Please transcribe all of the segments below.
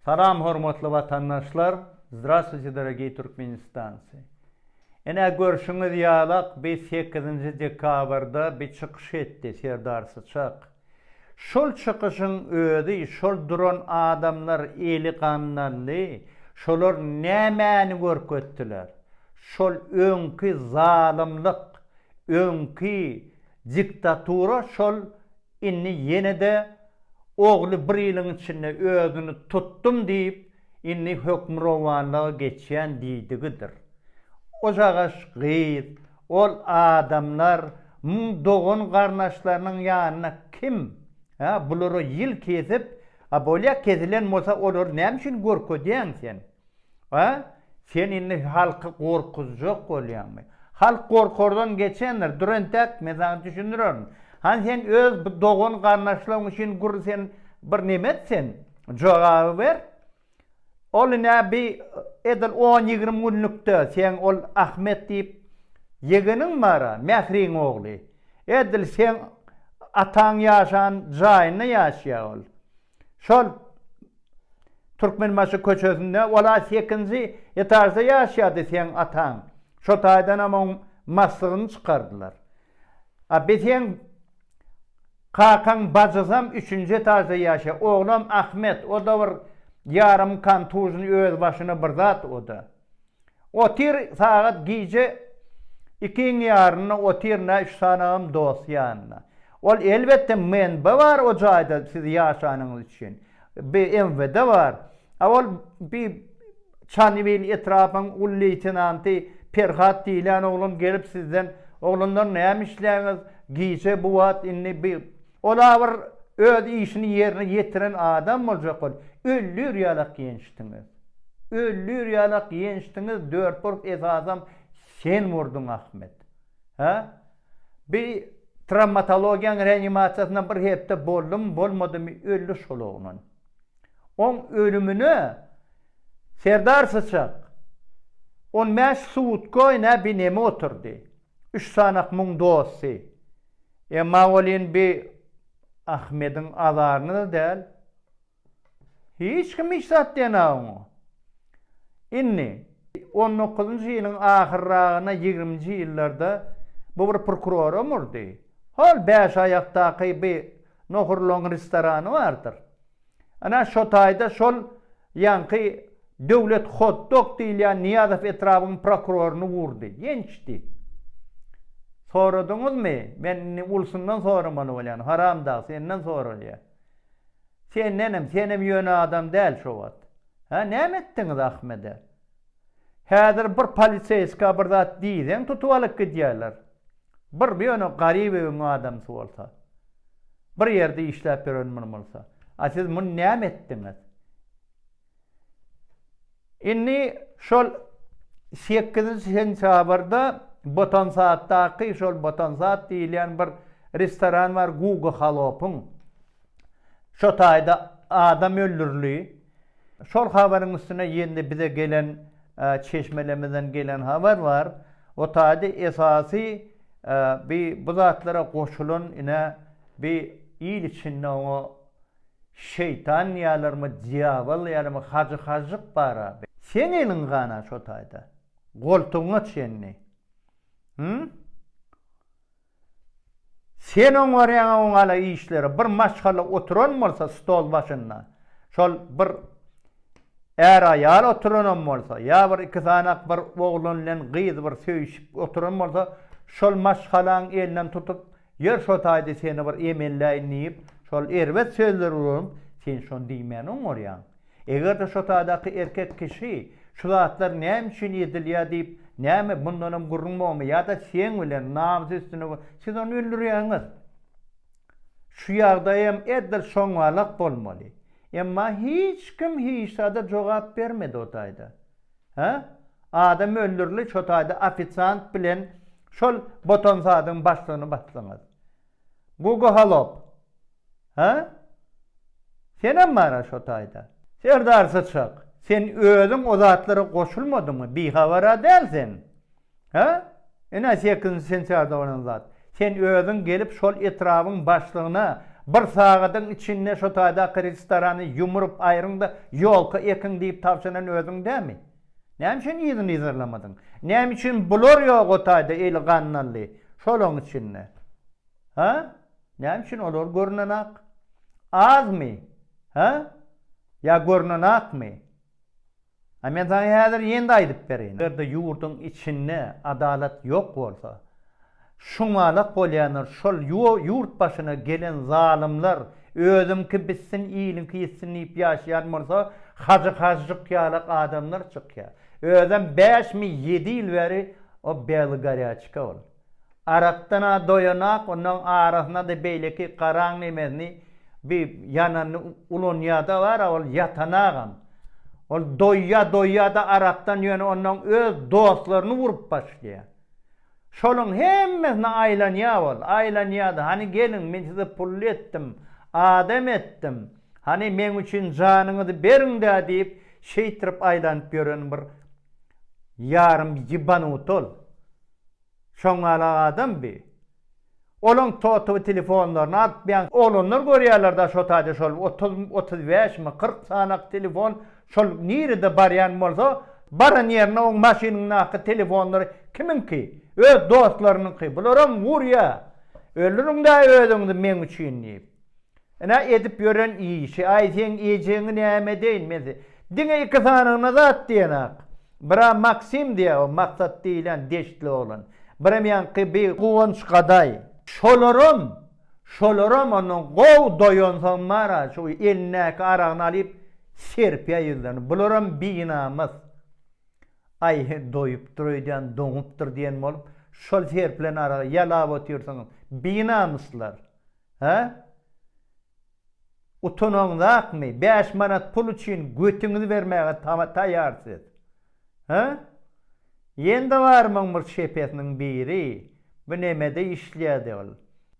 Salam hormatly watandaşlar Zdravstwuyte dorogiý Türkmenistancy Ine görşüňiz ýalak bi sekizinji dekabrda bi çykyş etdi Serdar Syçak şol çykyşyň özi şol duran adamlar eli gandally şolar nämäni görkezdiler şol öňki zalymlyk öňki Diktatura şol indi ýene-de ogly bir ýylyň içinde özüni tutdum diýip, indi hökmürowanlyga geçýän diýdigidir. Ojagaş gyz, ol adamlar, muň dogan-garnaşlarynyň ýanyna kim, a, bulara ýyl kesip, a bolýa kesilen bolsa olary näme üçin görkezýäň sen? A? Sen indi halky gorkuzjak bolýaňmy? Halk gorkardan geçendir. Dur entek, men saňa düşündirerin. Hany sen öz bu dogan-garyndaşlaryň üçin gür sen bir neme et sen? Jogaby ber. Ol ine bi edil on-ýigrimi günlükde seň ol Ahmet diýip ýegeniň bar-a, Mähriň ogly. Edil seň ataň ýaşan jaýynda ýaşaýar ol. Şol Türkmenbaşy köçesinde ol-a sekinji etažda ýaşaýardy seň ataň. Şo taýdanam oň maslygyny çykardylar. A bi seň kakaň bajysam üçünji etažda ýaşaýar. Oglam Ahmet, o-da bir ýarym kontuzny öz başyna bir zat o-da. Otyr sagat gije ikiň ýarynda otyr nä üç sanagam dost ýanynda. Ol elbetde MNB bar o jaýda siz ýaşanyňyz üçin. BMWD bar. A ol bi Çanybil etrapyň uly leýtenanty Perhat diýlen oglan gelip sizden oglanlar näme işleýäňiz gije bu wagt indi bi Ol-a bir öz işini ýerine ýetiren adam boljak bol. Öllür ýalak ýençdiňiz. Öllür ýalak ýençdiňiz, dört urg esasam sen urduň Ahmet. Hä? Bi trawmatologiýaň reanimasiýasynda bir hepde boldumy, bolmadymy öldi şol oglan. Oň ölümine Serdar Syçak on bäş sutka nä bi neme oturdy. Üç sanak muň dosty. Emma welin bi Ahmediň azaryna-da däl. Hiç kim hiç zat diýen-ä oňa. Indi, on dokuzynjy ýylyň ahyrragyna ýigriminji ýyllarda bu bir prokuroram urdy. Hol bäşaýakdaky bi nohurlaň restorany bardyr. Ana, şo taýda şol ýaňky Döwlet hot-dog diýilýän Nyýazow etrabyň prokuroryny urdy. Gençdi. Soradyňyzmy? Men indi ulusundan soramaly bolýan, haramdag, senden soralýa. Sendenem, senem ýöne adam däl şo wagt. Hä, näme etdiňiz Ahmede? Häzir bir poliseýska bir zat diýseň tutup alyp gidýärler. Bir ýöne Garybewiň adamsy bolsa. Bir ýerde işläp ýören muny bolsa. A siz muny näme etdiňiz? Indi şol sekizinji sentýabrda Botansatdaky şol Botansat diýilýän bir restoran bar Guga Halopyň. Şo taýda adam öldürildi. Şol habaryň üstüne ýene-de bize gelen çeşmelemizden gelen habar bar. O taýda esasy bi bu zatlara goşulan ine bi il içinde oňa şeýtan diýýärlermi, dýabol diýýärlermi, hajy hažžyk bar-a. Seň eliň gan-a şo taýda. Goltugyňa çenli. Hü? Sen oňaryň oňala işleri bir maşgala oturan bolsa stol başynda şol bir är aýal oturanam bolsa ýa bir iki sanak bir oglan bilen gyz bir söýüşip oturan bolsa şol maşgalaň elinden tutup ýör şo taýda seni bir emelläýin diýip şol erbet sözleri ulanyp sen şony diýmän oňarýaň. Eger-de şo tadaky erkek kişi şu zatlar näme üçin edilýär diýip, näme bundanam gürrüň bormy ýa-da seň bilen namys üstüne siz ony öldürýäňiz. Şu ýagdaýam edil şoňalak bolmaly. Emma hiç kim hiç zada jogap bermedi o taýda. Hä? Adam öldürli şo taýda ofisiant bilen şol botansadyň başlygyny basdyňyz. Gugu Holop. Ha? Senem bar-a şo taýda. Serdar syçak, sen özüň o zatlara goşulmadyňmy, bihabar-a däl sen. Ha? Ine sekizinji sentýarda bolan zat. Sen özüň gelip şol etrabyň başlygyna bir sagadyň içinde şo taýdaky restorany ýumrup aýryň-da ýolka ekiň diýip tabşyran özüň dälmi? Näme üçin yzyny yzarlamadyň? Näme üçin bular ýok o taýda eli gandally şolaryň içinde? Ha? Näme üçin olar görünenak? Azmy? Hä? Ýa görünenak-my? A men saňa häzir ýene-de aýdyp bereýin. Eger-de ýurduň içinde adalat ýok bolsa, şuňalak bolýandyr, şol ýurt başyna gelen zalymlar özüňki bitsin, iliňki ýitsin diýip ýaşaýan bolsa, Hajy Hažžyk ýalak adamlar çykýar. Özem bäşmi ýedi ýyl bäri o belogorýaçka bolup. Arakdan-a doýanak, onnoň arasyna-da beýleki garaň nemesini, bi ýananyny ulanýa-da bar-a, ol ýatanagam. Ol doýýa, doýýa-da arakdan, ýöne onnoň öz dostlaryny urup başlaýar. Şolaryň hemmesine aýlanýa ol, aýlanýa-da, Hany geliň, men size pully etdim, adam etdim. Hany, meň üçin janyňyzy beriň-dä diýip, şeýtirip aýlanyp ýören bir ýarym ýybanut ol. Şoňňalak adam bi. Olaň totowy telefonlaryny alyp bian oglanlar görýärler da şo taýda şol otuz otuz bäş mi kyrk sanak telefon şol nirede barýan bolsa baran ýerine oň maşynyndaky telefonlar kimiňki öz dostlarynyňky bularam urýa ölirin da özüňizi meň üçin diýip Ine edip ýören işi, aý seň ejeňi näme edeýin men se, diňe iki sanygyna zat diýenok. Bira Maksim diýýär, o Maksat diýlen deştli oglan. Biram ýaňky bi Guwanç gadaý. Şolaram, şolaram ondan gowy doýansoň bar-a, şu elindäki aragyny alyp serpýär ýüzlerine. Bularam binamys. Aý he, doýupdyr öýdýän, doňupdyr diýen bolup, şol serpilen aragy ýalap otyrsyňyz. Binamyslar. Hä? Utanaňzakmy? Bäş manat pul üçin götüňizi bermäge taýýar siz. Hä? Ýende barmyň bir şepesiniň biri? Bu nämede işleýärdi ol?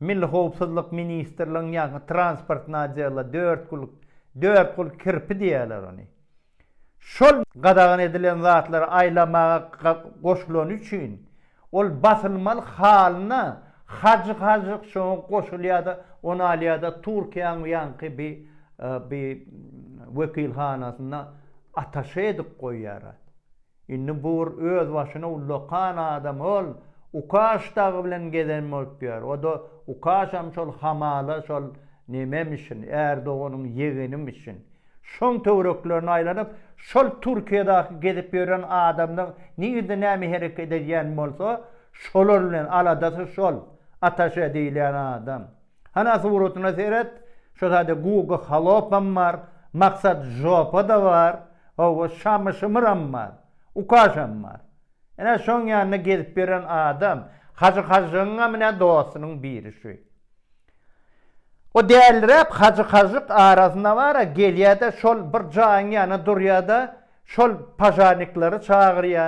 Milli howpsuzlyk ministrligiň ýaňky transportny adyýarlar, dört kul, dört kul kirpi diýýärler ony. Şol gadagan edilen zatlary aýlamaga goşulany üçin, ol basylmaly halyna hajyk-hajyk şoňa goşulýar-da, ony alýar-da Türkiýäň ýaňky bi bi wekilhanasynda ataşe edip goýýar. Indi bu bir özbaşyna ullakan adam ol Ukaş dagy bilen gezen bolup ýör. O-da Ukaşam şol hamala şol nememişin, Ärdoganyň ýegenimişin. Şoň töwereklerine aýlanyp, şol Türkiýedaky gezip ýören adamlar nirde näme hereket edýän bolsa, şolar bilen aladasy şol, ataşe diýilýän adam. Hana suratyna seret, şo sada Guga Holopam bar, Maksat Žopa-da bar, hawa, Şamy Şymyram bar, Ukaşam bar. Ine, şoň ýanynda gezip ýören adam, Hajy Hažžygyňam ine dostunyň biri şu. O däliräp Hajy Hažžyk arasynda bar-a, gelýä-de şol bir jaýyň ýanyna durýa-da, şol pažarnikleri çagyrýa,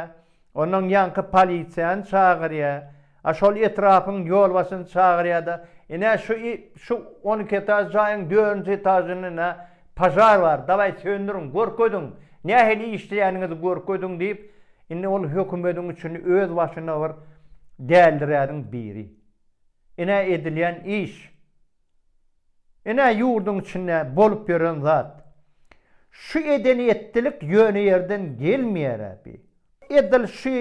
ondan ýaňky polisiýany çagyrýa, A şol etrapyň ýolbaşçyny çagyrýar-da, Ine, şu, şu on iki etaž jaýyň dördünji etažynda požar bar, dawaý, söndüriň, görkeziň, nähili işleýäniňizi görkeziň diýip, indi ol hökümediň içinde öz başyna bir däldiräniň biri. Ine, edilýän iş. Ine ýurduň içinde bolup ýören zat. Şu eden etdilik ýöne ýerden gelmeýärä bi. Edil şu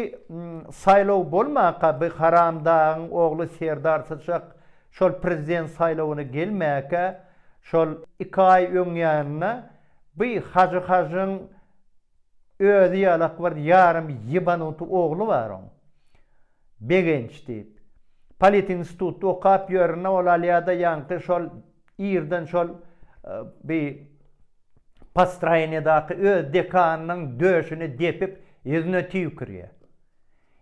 saýlaw bolmaka bi haramdagyň ogly Serdar syçak şol prezident saýlawyna gelmäkä şol iki aý öňýanynda bi hajy hajyň özi ýalak bir ýarym ýebanut ogly bar oň. Begenç diýip. Politintitutda okap ýörün-ä ol Alýada ýaňky şol ýerden şol bi postroýeniýadaky öz dekanynyň döşüni depip ýüzüne tüýkürýär.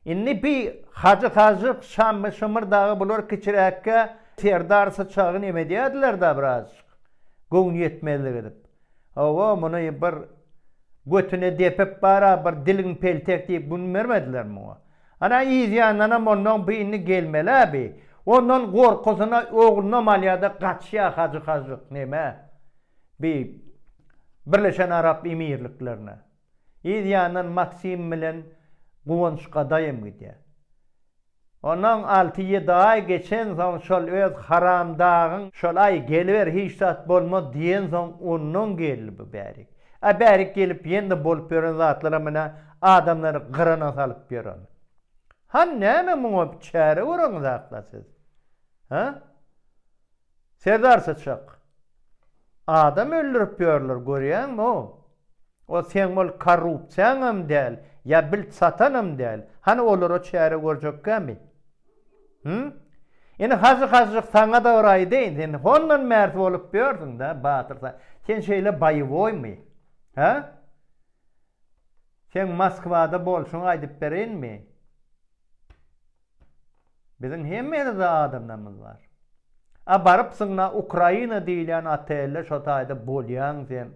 Indi bi Hajy Hažžyk, Şammy Şymyr dagy bular kiçiräkkä Serdar Syçagy neme edýärdiler-dä birazjyk göwnüýetmezlik edip. Hawa, muny bir götüne depip bar-a bir diliň peltek diýip gün bermediler muňa. Ana yzýandanam onnoň bu indi gelmeli-ä bi. Ondan gorkusyna oglunam alýa-da gaçýa Hajy Hajyk nämä, bi Birleşen Arap Emirliklerine. Yzýandan Maksim bilen Guwanç gadaýym gidýä. Onnoň alty-ýedi aý geçensoň şol öz haramdagyň şol aý geliber hiç zat bolmaz diýensoň onnoň geldi bu bärik. A bärik gelip ýene-de bolup ýören zatlaram ine adamlary gyryna salyp ýören. Han näme muňa bir çäre göreňizakla siz? Hä? Serdar syçak. Adam öldürip ýörler görýäňmi-o? O seň ol korrupsiýaňam däl, ýa bil satanam däl. Hany olara çäre görjekkämi? Hü? Indi Hajy Hajyk saňa-da bir aýdaýyn, sen hondan märt bolup ýörsüň-dä, Batyr, sen şeýle boýowoýmy? Hä? Seň Moskwada bolşuňy aýdyp bereýinmi? Biziň hem ýerde adamlarymyz bar. A barypsyňda Ukraina diýilýän otelde şo taýda bolýaň sen,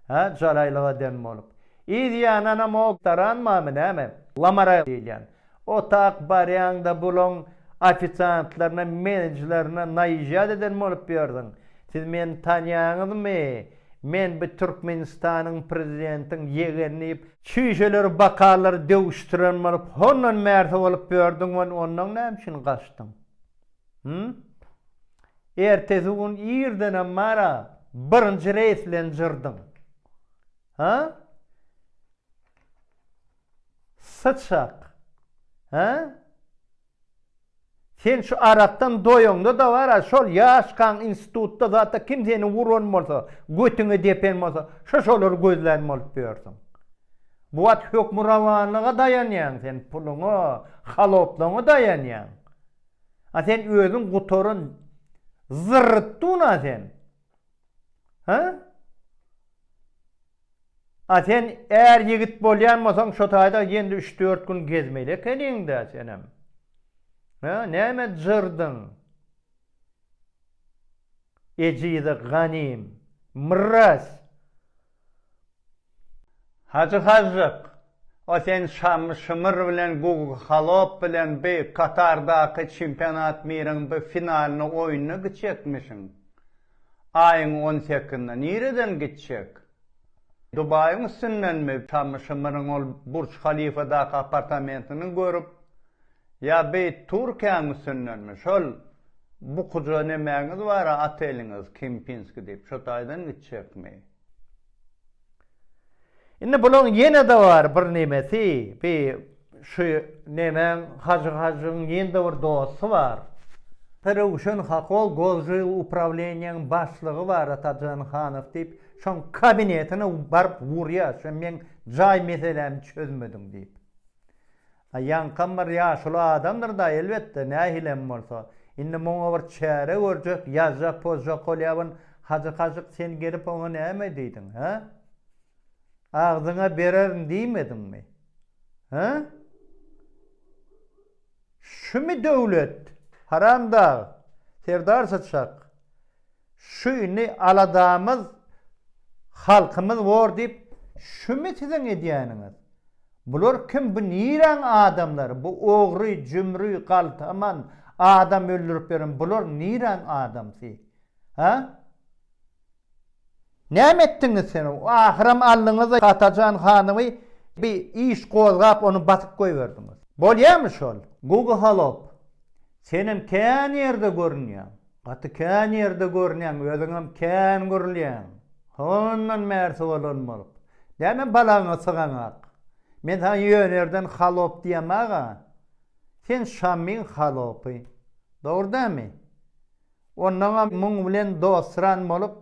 hä, jalaýlyk eden bolup. Yz ýananam o taranmamy näme? Lamaraý diýilýän. Otag barýaňda bulaň ofisiantlaryna menejlerine naýyžat eden bolup ýörsiň. Siz meni tanýaňyzmy? Men bi Türkmenistanyň prezidentiň ýegeni diýip, çüýşeleri bakalary döwüşdiren bolup hondan märsi bolup ýördiň we ondan näme üçin gaçdyň? Hum? Ertesi gün irdenem bara birinji reýs bilen jyrdyň. Ha? Syçak. Hä? Sen şu arakdan doýaňda-da bar-a, şol ýaşkaň institutda zatda kim seni uran bolsa, götüňe depen bolsa, şo-şolary gözlän bolup ýörsüň. Bu wagt hökmürowanlyga daýanýaň sen, puluňa, haloplygyňa daýanýaň. A sen özüň gutaran zyrrytdun-a sen. Hä? A sen är ýigit bolýan bolsaň şo taýda ýendi üç dört gün gezmeli ekeniňdä senem. Hä näme jyrdyň. Ejize ganym. Mrraz. Hajy Hajyk, o sen Şamy Şymyr bilen Gugy Halop bilen bi Katardaky çempionat miriň bi finalyny oýnuna giçekmişiň. Aýyň on sekizinde nireden gitjek? Dubaýyň üstündenmi? Şamy Şymyryň ol Burç Halifadaky apartamentini görüp, ýa beýt Türkiýäň üstündenmi? Şol bukuja nemäňiz bar-a, oteliňiz, Kempinski diýip, şo taýdan gitjekmi? Indi bulaň ýene-de bar bir nemesi, bi şu nemäň Hajy Hajyň ýene-de bir dosty bar. Röwşen Hakol Gozžyl uprawleniýäň başlygy bar Atajan Hanow diýip, şoň kabinetine baryp urýar, sen meň jaý meselämi çözmediň diýip. A ýaňkam bir ýaşuly adamdyr-da, elbetde, nähili hem bolsa. Indi muňa bir çäre görjek, ýazjak-pozjak bolýabyn. Hajy Kaşyk, sen gelip oňa näme diýdiň, hä? Agzyňa bererin diýmediňmi? Hä? Şumy döwlet? Haramdag! Serdar Çyçak, Şu indi aladamyz halkymyz bor diýip şümi siziň edýäniňiz? Bular kim bu niräň adamlary bu ogry jümri galtaman adam öldürip ýören bular niräň adamsy? Hä? Näme etdiňiz sen? Ahyram aldyňyz-da Atajan hanymy, bir iş gozgap, ony basyp goýberdiňiz. Bolýamy şol? Gugy Holop, senem kän ýerde görünýäň. Gaty kän ýerde görünýäň, özüňem kän gürlýäň. Hondan bärsi bolan bolup. Däne balagyňa sygaňak. Men saňa ýönerden Holop diýemag-a. Sen Şamyň Holopy. Dogry dämi? Onnoňam muň bilen dostran bolup,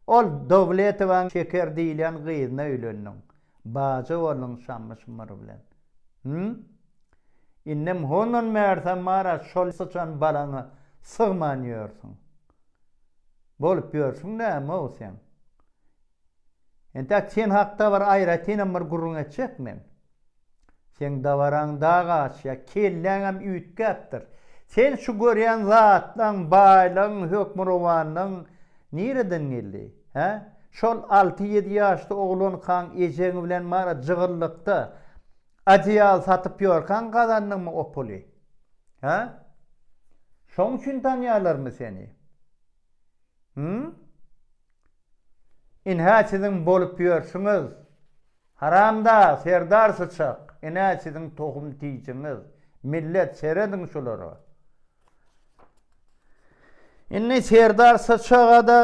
ol Dowletowaň Şeker diýilýän gyzyna öýlendiň. Bajy bolduň Şammy-şummary bilen. Hümm? Indem hondan märsem bar-a şol syçan balaňa sygman ýörsüň. Bolup ýörsüň näme-ow seň? Entäk sen hakda bir aýratynam bir gürrüň etjek men. Seň dabaraň dag aşýar, kelläňem üýtgäpdir. Sen şu görýän zatlaň, baýlygyň, hökmürowanlygyň nireden geldi? Hä? Şol alty-ýedi ýaşly oglankaň ejeň bilen marat jygyllykda adeýal satyp ýörkäň gazandyňmy o puly? Hä? Şoň üçin tanýarlarmy seni? Hum? Inhä siziň bolup ýörsüňiz. Haramdag, Serdar syçak, inä siziň tohum tijiňiz. Millet, serediň şulara. Indi Serdar syçaga-da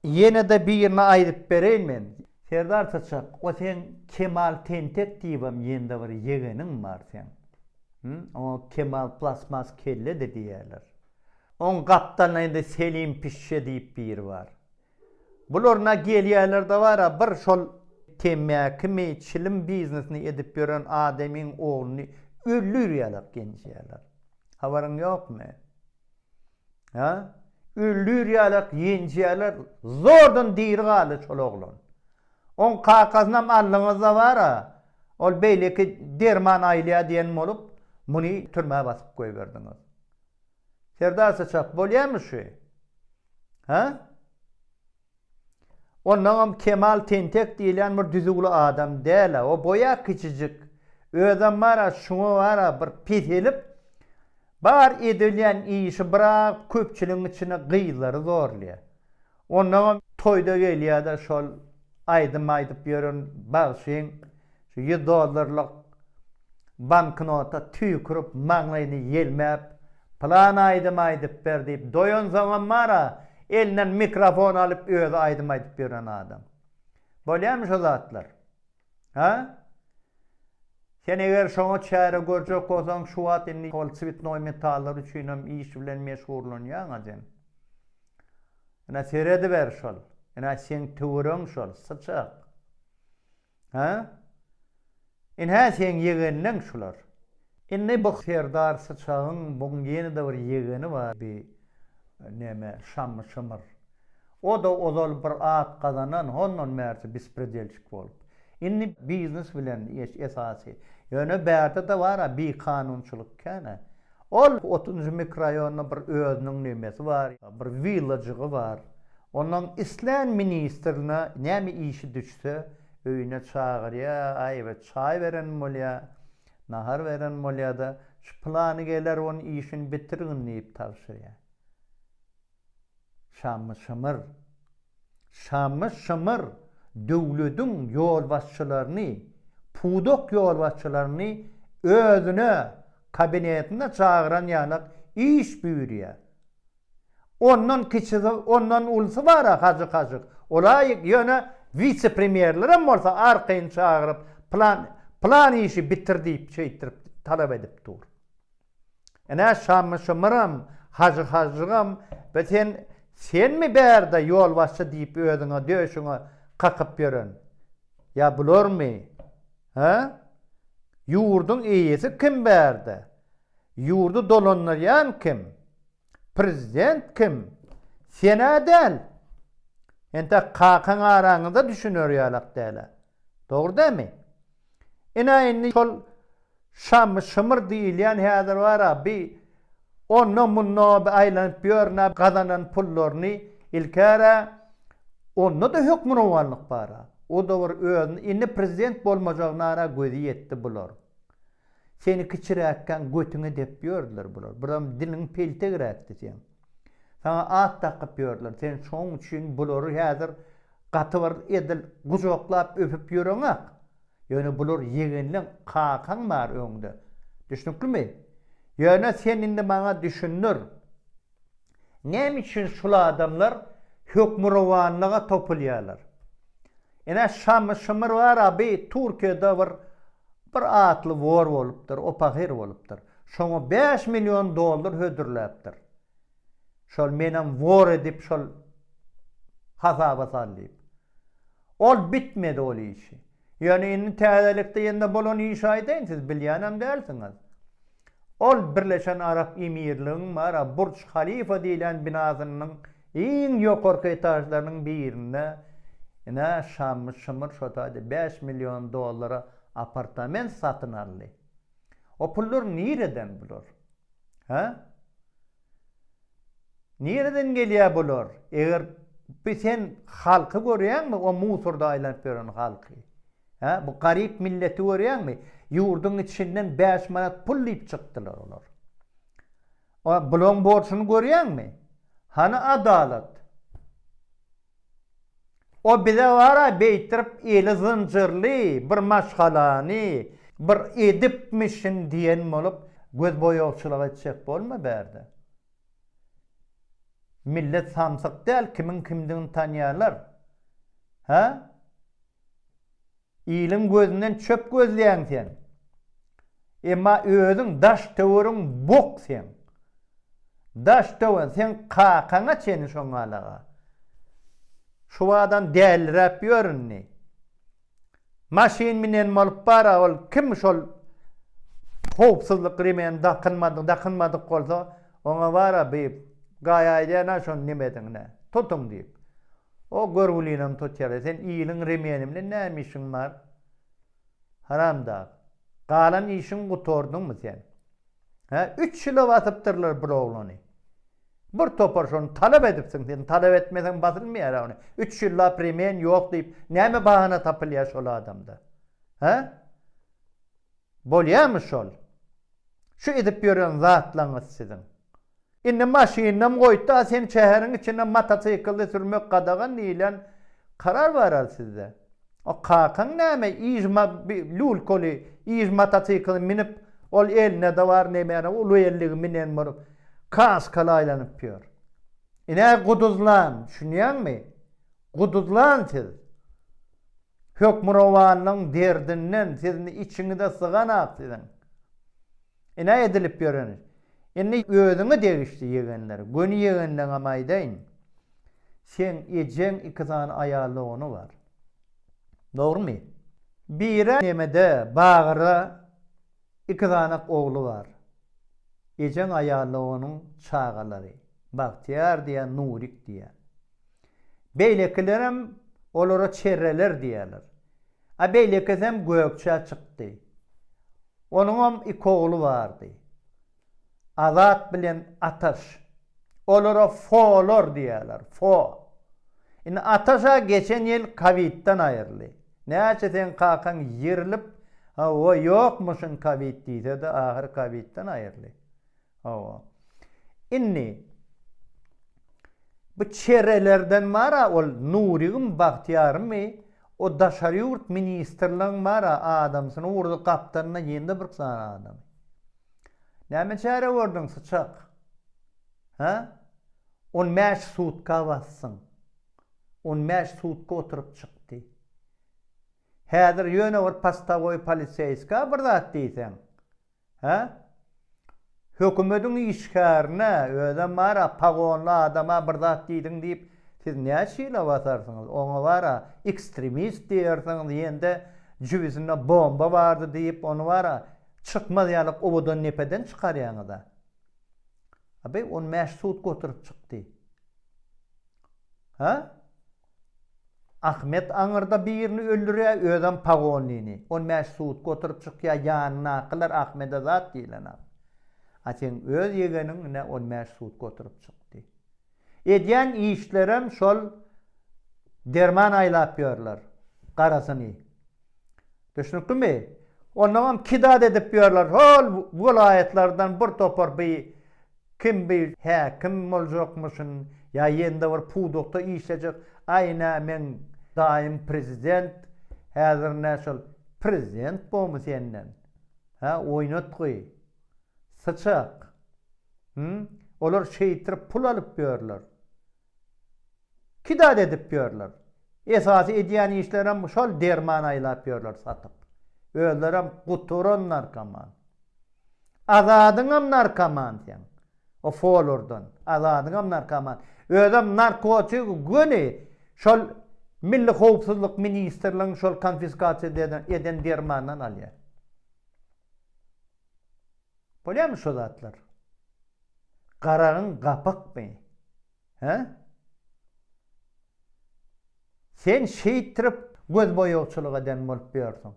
ýene-de birini aýdyp bereýin men. Serdar syçak, o seň Kemal tentek diýibem ýende bir ýegeniň bar seň. Hum? Oňa Kemal plasmas kelledi diýerler. Oň gapdalyna indi Selim pişşe diýip biri bar. Bular na gelýäler-de bar-a, bir şol temmäkimi, çilim biznesini edip ýören adamyň ogluny öldürýärler, genjeýärler. Habaryň ýokmy? Hä? Öldürýärler, genjeýärler, zordan diri galdy şol oglan. Oň kakasynam aldyňyz-da bar-a, ol beýleki derman aýlaýar diýen bolup, muny türmä basyp goýberdiňiz. Serdar Saçak bolýamy şu? Hä? Ondaňam Kemal tentek diýilýän bir düzüwli adam däl-ä, o boýa kiçijik. Özem bar-a şuňa bar-a bir peselip, bar edilýän işi byrap köpçüligiň içine gyzlary zorlaýar. Ondaňam toýda gelýärde şol aýdym aýdyp ýören bagşyň şu ýüz dollarlyk banknota tüýkürip maňlaýyny ýelmäp Plan aýdym aýdyp ber diýip doýansoňam bara elinden mikrofon alyp özi aýdym aýdyp ýören adam. Bolýamy şo zatlar. Hä? Sen eger şoňa çäre görjek bolsaň, şu wagt indi ol çwitnoý metallar üçinem iş bilen meşgurlanýaň-a sen. Ine, serediber şol. Ine, seň töweregiň şol, syçak. Hä? Ine, seň ýegenleň şular. Indi bu serdar syçagyň buň ýene-de bir ýegeni bar bi neme Şammy Şymyr. O-da ozal bir at gazanan, hondan bärsi bispredelçik bolup. Indi biznes bilen eş esasy. Ýöne bärde-de bar-a bikanunçylyk kän-ä. Ol otuzynjy mikroýonda bir özüniň nemesi bar, bir willajygy bar. Onuň islän ministrine näme işi düşse öýüne çagyrýa, aýyba çaý berenim bolýa. Nahar beren bolýar-da, Şu pylany geler onuň işini bitirgin diýip tabşyrýar. Şammy Şymyr. Şammy Şymyr döwlediň ýolbaşçylaryny, pudak ýolbaşçylaryny özüne kabinetine çagyran ýalak iş buýurýar. Ondan kiçisi, ondan ulusy bar-a Hajykaşyk. Ol-a ýöne wise-premýerlerem bolsa arkaýyn çagyryp, plan, plan işi bitir diýip, şeýtdirip talap edip dur. Ine, Şammy-Şymyram, Hajykaşygam bu sen, senmi bärde ýolbaşçy diýip özüňe döşüňe kakyp ýören? Ýa bularmy? Hä? Ýurduň eýesi kim bärde? Ýurdy dolandyrýan kim? Prezident kim? Sen-ä däl. Entek kakaň araňyza düşüner ýalak däl-ä. Dogry dämi? Ine, indi şol Şamy Şymyr diýilýän häzir bar-a, bi onda-munda bi aýlanyp ýörün-ä, gazanan pullaryny ilk-ä-ä onda-da hökmürowanlyk bar-a. O-da bir özüni indi prezident bolmajagyna-a gözi ýetdi bular. Seni kiçiräkkäň götüňe depip ýördüler bular. Biram diliň peltegräkdi seň. Saňa at dakyp ýördüler. Sen şoň üçin bulary häzir gaty bir edil gujaklap öpüp ýöreňok. Ýöne bular ýegenleň, kakaň bar öňde. Düşnüklimi? Ýöne sen indi maňa düşündir. Näme üçin şul adamlar hökmürowanlyga topulýarlar? Ine Şamy Şymyr bar-a bi Türkiýede bir bir atly wor bolupdyr, opahyr bolupdyr. Şoňa bäş million dollar hödürläpdir. Şol menem wor edip şol hasaba sal diýip. Ol bitmedi ol işi. Ýöne indi täzelikde ýene-de bolan işi aýdaýyn, siz bilýänem dälsiňiz. Ol Birleşen Arap Emirligiň bar-a Burç Halifa diýlen binasynynyň iň ýokarky etažlarynyň birinde ine şammy şymyr şo taýda bäş million dollara apartament satyn aldy. O pullar nireden bular? Hä? Nireden gelýär bular eger bu sen halky görýäňmi o musorda aýlanyp ýören halky hä bu garyp milleti görýäňmi ýurdyň içinden bäş manat pul diýip çykdylar olar bulaň borçuny görýäňmi hany adalat O bize wara beýtirip eli zynjyrly bir maşgalany bir edipmişin diýen bolup gözboýagçylyk etjek bolma bärde. Millet samsyk däl kimiň kimdigini tanýarlar. Hä? Iliň gözünden çöp gözleýäň sen. Emma özüň daş töweriň bok seň. Daş töwen seň kakaňa çeni şoňalaga. Şubadan dälliräp ýör indi. Maşyn minen bolup bara ol kim şol howpsuzlyk remeni dakynmadyk dakynmadyk bolsa oňa bara bi gaýaýdana şon nemedigine tutuň diýip. O görgülinem tutýar-da, sen iliň remeni bilen näme işiň bar? Haramdag. Galan işiňi gutardyňmy sen? Hä, üç ýyla basypdyrlar bir oglany. Bir topar şony talap edipsiň sen, talap etmeseň basylmaýar-a ony. Üç ýyllap remen ýok diýip, näme bahana tapylýar şol adamda? Hä? Bolýarmy şol? Şu edip ýören zatlaryňyz siziň. Indi maşynynam goýtda sen şäheriň içinde motosiklde sürmek gadagan diýlen karar baral sizde. O kakaň näme ýygy ma bi lulkoly ýygy motosiklini minip ol elinde-de bar nebene uly belligi minen bolup kaskaly aýlanyp ýör. Ine guduzlan düşünýäňmi? Guduzlan siz. Hökmürowanlygyň derdinden sizni içiňize syganak siziň. Ine edilip ýören iş. Indi özüňe degişli ýegenler, göni ýegenleňem aýdaýyn. Seň ejeň iki sany aýal dogany bar. Dogrumy? Biri Nemede, Bagyra iki sanak ogly bar. Ejeň aýal doganyň çagalary. Bagtyýar diýýär, Nurik diýýär. Beýlekilerem olara çerreler diýýärler. A beýlekisem Gökçä çykdy. Onuňam iki ogly bardy. Azat bilen Ataş. Olara Folar diýýärler, Fo. Indi Ataş-a geçen ýyl kowidden aýryldy. Näçe seň kakaň ýerilip, hawa, ýokmuşyn kowid diýse-de, ahyry kowidden aýryldy. Hawa. Indi bu çerelerden bara ol Nurygym Bagtyýarymy o daşary ýurt ministrligiň bara adamsyny urdy gapdalynda ýygndy bir sany adamy. Näme çäre gördüň syçak? Hä? On bäş sutka basdyň. On bäş sutka oturyp çykdy. Häzir ýöne bir postawoý poliseýska bir zat diýseň, Hä? Hökümediň işgärine, özem bar-a, pagonly adama bir zat diýdiň diýip, siz näçe ýyla basarsyňyz? Oňa bar-a, ekstremist diýersiňiz, ýende jübüsinde bomba bardy diýip, ony bar-a, çykmaz ýaly owadan depeden çykarýaňyz-a. A beý, on bäş sutka oturyp çykdy. Hä? Ahmet aňyrda birini öldürýä özem pagonyny on bäş sutka oturyp çykýa ýanyndakylar Ahmede zat diýlenok a seň öz ýegeniň ine on bäş sutka oturyp çykdy edýän işlerem şol derman aýlap ýörler garasyny Düşnüklimi? Onnoňam kidad edip ýörler, hol welaýatlardan bir topar bi kim bi häkim boljakmyşyn ýa ýende bir pudakda işlejek, aý nä meň daýym prezident, häzir nä şol prezident bomy senden? Hä, oýnatgy, syçak. Hum, olar şeýtirip pul alyp ýörler. Iki zat edip ýörler. Esasy edýän işlerem şol derman aýlap ýörler satyp. Özlerem guturan narkoman. Azadyňam narkoman seň. O folurdan. Azadyňam narkoman. Özem narkotigi göni şol Milli howpsuzlyk ministrligiň şol konfiskasiýa eden dermanyndan alýar. Bolýamy şo zatlar? Garagyň gapykmy? Hä? Sen şeýtdirip gözboýagçylyk eden bolup ýörsüň.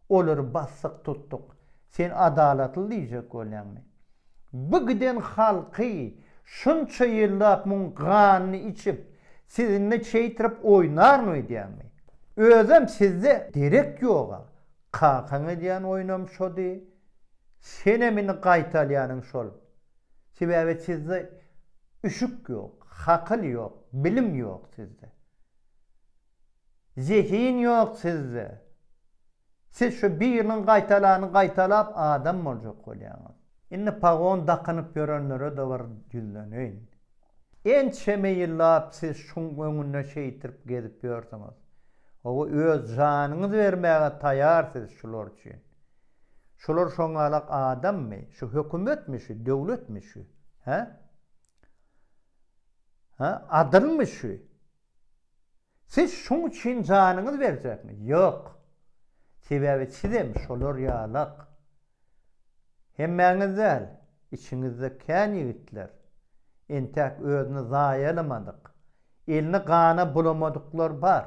Olary basdyk tutduk. Sen adalatly diýjek bolýaňmy? Bu giden halky şunça ýyllap muň ganyny içip, sizinle şeýtirip oýnaryn öýdýäňmi? Özem sizde derek ýoga, Kakaň edýän oýunam şody, senem indi gaýta alýanyň şol. Sebäbi sizde üşük ýok, hakyl ýok, bilim ýok sizde. Zehin ýok sizde. Siz şu biriniň gaýta alanyny gaýta alap adam boljak bolýaňyz. Indi pagon dakynyp ýörenlere-de bir ýüzleneýin. Ençeme ýyllap siz şuň öňünde şeýtirip gezip ýörsüňiz. Hawa, öz janyňyzy bermäge taýar siz şular üçin. Şular şoňalak adammy? Şu hökümetmi şu, döwletmi şu? Hä? Hä? Adylmy şu? Siz şuň üçin janyňyzy berjekmi? Ýok. Sebäbi sizem şolar ýalak. Hemmäňiz däl, içiňizde kän ýigitler, entäk özüni zaýalamadyk, elini gana bulamadyklar bar.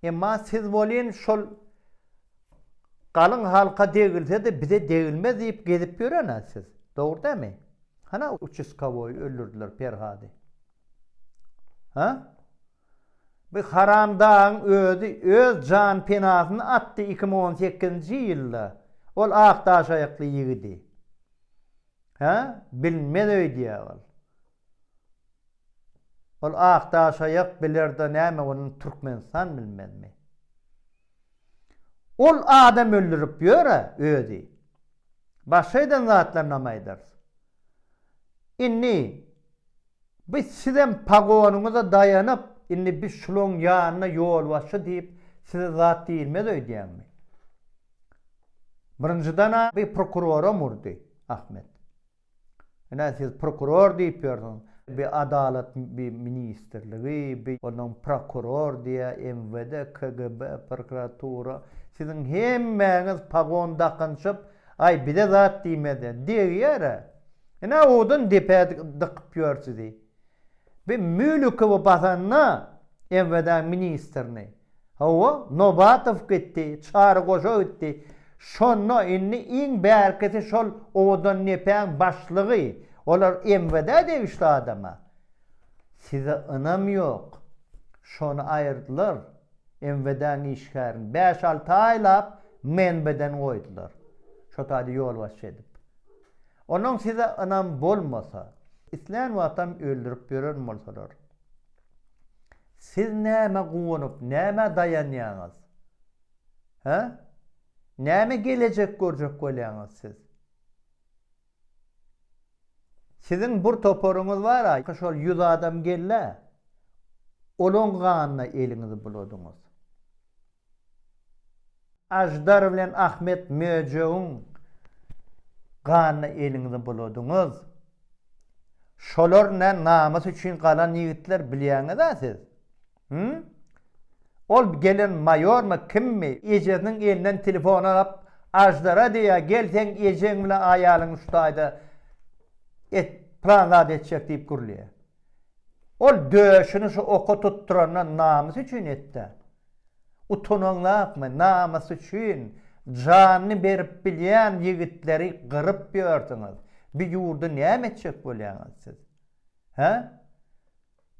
Emma siz welin şol galyň halka degilse-de bize degilmez diýip gezip ýören-ä siz. Dogry dälmi? Hana uçaskowoýy öldürdiler Perhady. Ha? Bu haramdagyň özi öz jan penasyny atdy iki müň on sekizinji ýylda ol ak daş aýakly ýigidi. Ha? Bilmez öýdýä ol. Ol ak daş aýak bilerda näme bolany Türkmenistan bilmezmi? Ol adam öldürip ýör-ä özi. Başga eden zatlaryny hem aýdarys. Indi biz sizem pagonyňyza daýanyp, indi biz şulaň ýanyna ýolbaşçy diýip size zat diýilmez öýdýäňmi? Birinjiden-ä bi prokuroram urdy, Ahmet. Ine siz prokuror diýip ýörsiňiz, bi adalat bi ministrligi, bi onuň prokuror diýýä, MWD, KGB, prokuratura, siziň hemmäňiz pagon dakynşyp, Aý, bize zat diýmez-ä. Degýär-ä. Ine, owdan depä dykyp ýör sizi. Bi Mülükowy basanda, MWD ministrini. Hawa, Nobatow gitdi, Çary goşa gitdi. Şonda indi iň bärkisi şol owdan depäň başlygy. Olar MWD-ä degişli adam-a. Size ynam ýok. Şony aýyrdylar. MWD-niň işgärini bäş-alty aýlap menbeden goýdular. Şo taýda ýolbaşçy edip. Onuň size ynam bolmasa, islän wagtam öldürip ýören bolsalar. Siz nämä guwanyp, nämä daýanýaňyz? Hä? Näme gelejek görjek bolýaňyz siz? Siziň bir toparyňyz bar-a, şol ýüz adam gel-le, olaň ganyna eliňizi buladyňyz. Aždar bilen Ahmet möjegiň ganyna eliňizi buladyňyz. Şolar nä namys üçin galan ýigitler bilýäňiz-ä siz. Hümm? Ol gelen maýormy, kimmi? Ejesiniň elinden telefon alyp, Aždara diýýär, gel seň ejeň bilen aýalyň şu taýda et, pylan zat etjek diýip gürleýär. Ol döşüni şu oka tutduranda namys üçin et-dä. Utanaň zapmy, namys üçin janyny berip bilýän ýigitleri gyryp ýörsüňiz. Bu ýurdy näme etjek bolýaňyz siz? Hä?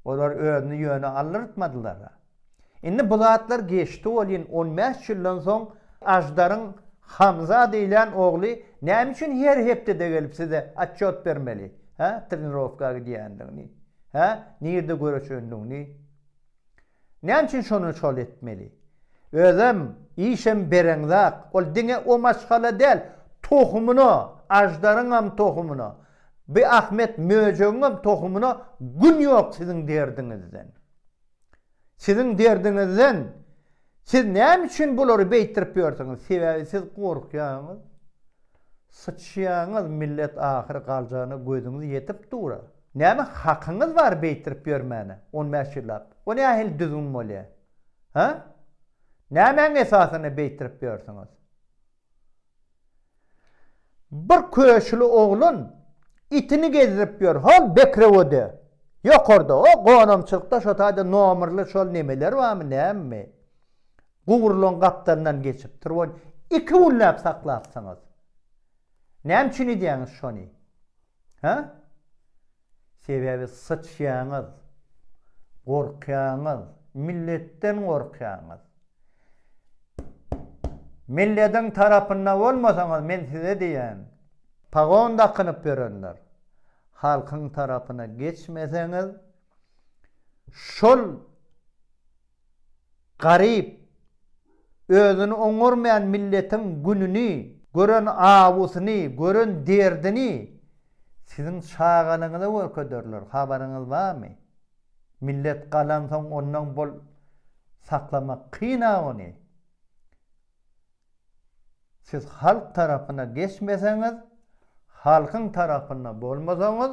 Olar özüni ýöne aldyrtmadylar-a. Indi bu zatlar geçdi welin, on bäş ýyldan soň Aždaryň Hamza diýlen ogly näme üçin her hepdede gelip size atçot bermeli, hä, trenirowka gidýändigini, hä, nirde göreşendigini? Näme üçin şony şol etmeli? Özem, işem bereňzak, ol diňe o maşgala däl, tohumyna, aždaryňam tohumyna, bi Ahmet möjegiňem tohumyna gün ýok siziň derdiňizden. Siziň derdiňizden. Siz näme üçin bulary beýtdirip ýörsüňiz? Sebäbi siz gorkýaňyz. Syçýaňyz, millet ahyry galjana gözüňiz ýetip dur-a. Näme hakyňyz bar beýtirip ýörmäne on bäş ýyllap? O nähili düzgün bolýa? Hä? Nämäň esasyna beýtirip ýörsüňiz? Bir köşüli oglan itini gezdirip ýör, hol Bekrewode, ýokarda, o gonamçylykda şo taýda nomerli şol nemeler barmy, nämemi? Gurulan gapdalyndan geçipdir, ony iki günläp saklapsyňyz. Näme üçin edýäňiz şony? Hä? Sebäbi syçýaňyz. Gorkýaňyz. Milletden gorkýaňyz. Milletiň tarapynda bolmasaňyz men size diýýän. Pagon dakynyp ýörenler. Halkyň tarapyna geçmeseňiz şol Garyp, özüni oňarmaýan milletiň gününi gören awusyny, gören derdini siziň çagalygyňyza görkezerler, habaryňyz barmy? Millet galansoň ondan bol saklamak kyn-a ony. Siz halk tarapyna geçmeseňiz, halkyň tarapynda bolmasaňyz,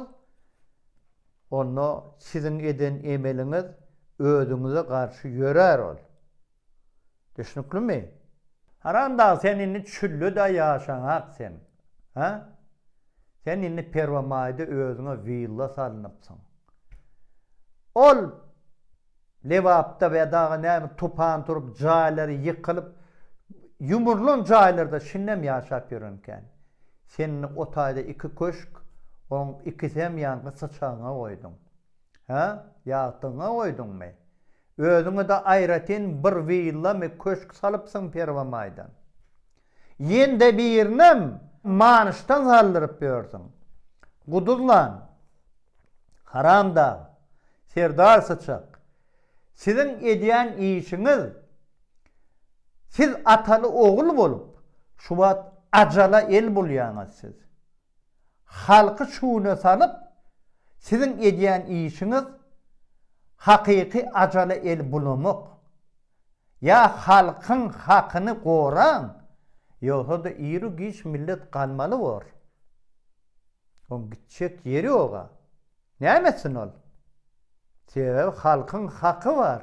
onda siziň eden emeliňiz özüňize garşy ýörär ol. Düşnüklimi? Haramdag sen indi çülleda ýaşaňak sen. Hä? Sen indi Perwamaýda özüňe willa salnypsyň. Ol Lebapda we dagy näme tupan turup jaýlary ýykylyp ýumurlan jaýlarda şindem ýaşap ýörenkäň. Sen indi o taýda iki köşk, oň ikisem ýaňky syçagyňa goýduň. Hä? Ýagtygyňa goýduňmy? Özüňe-de aýratyn bir willamy köşk salypsyň perwamaýdan. Ýene-de birinem manyşdan saldyryp ýörsüň. Guduzlan, haramdag, serdar syçak, siziň edýän işiňiz, siz ataly-ogul bolup, şu wagt ajala el bulýaňyz siz. halky çuwna salyp siziň edýän işiňiz hakyky ajala el bulamak ýa halkyň hakyny goraň ýogsada iru giç millet galmaly bor oň gitjek ýeri ýoga näme etsin ol sebäbi halkyň haky bar.